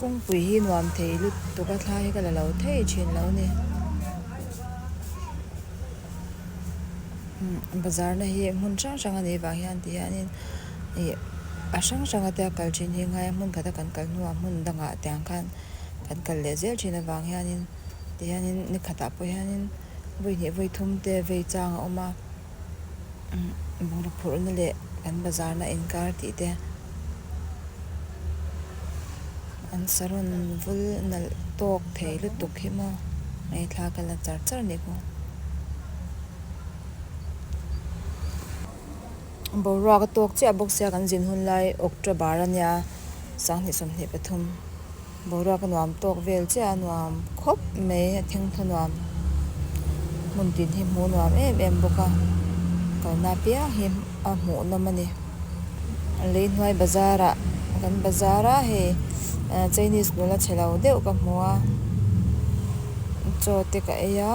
kawngpui hi nuam thei lutuk a thlai hi ka la lo thei thin lo ni umm bazar na hi hmun hrang hrang a nei vang hian ti hian in ih a hrang hrang a te a kal thin hi ngai a hmun khat a kan kal hnu ah hmun dang ah tiang khan kan kal leh zel thin avang hian in ti hian in ni khat ah pawh hian in vawi hneh vawi thum te vei chang a awm a. Bungraw phurhna leh kan bazarna inkar tih te, an saron vul nalh tawk thei lutuk hi maw? Hei thla ka la char char nih khaw. Boruak a tawk chiah bawk sia kan zin hun lai October a nia, Sang hnih sawmhnih pathum. Boruak a nuam tawk vel chiah a nuam khawp mai a thengthaw nuam hmun tin hi hmu nuam em em bawk a kalna piang hi a hmuh nawm a ni Leihnuai bazar ah kan bazar a hei ah Chinese nula chhe lo deuh ka hmu a chaw te ka ei a.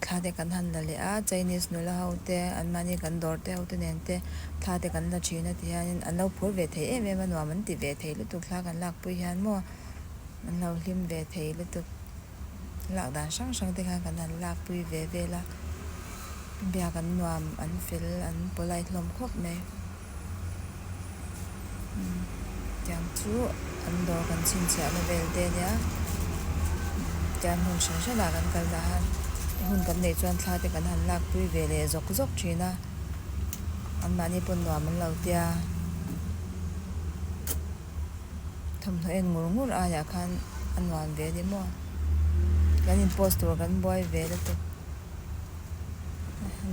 Thla te kan han la leh a, Chinese nula ho te, an mahni kan dawr te ho te nen te thla te kan la thin a ti hian in an lo phur ve thei em em a, nuam an ti ve thei lutuk thla kan lak pui hian maw, an lo hlim ve thei lutuk, lak dan hrang hrang te khan kan han lak pui ve vel a, biak an nuam an fel an polite hlawm khawp mai. tiang chu an dawr kan chhunchhiah na vel te a nia tian hmun hran hran ah kan kal dah a he hun kan neih chuan thla te kan han lak pui ve leh zawk zawk thin a an mahni pawh nuam an lo tia thawmhnaw en ngur ngur ai ah khan a nuam ve a ni maw kan in post tur kan buai ve te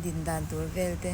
din dan tur vel te.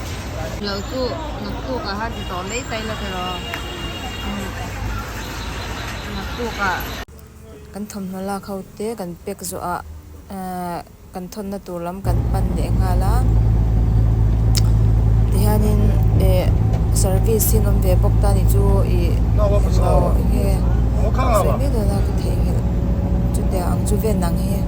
Lo chu naktuk ah han ti tawh mai ta ila tiraw naktuk ah. Kan thawmhnaw lak ho te kan pack zawh ah kan thawnna tur lam kan pan leh nghal a tihian in ih service hi an awm ve bawk ta ni chu ih englo enge sawi mai dawna ka thei nghelh chutia ang chu ven ang hi.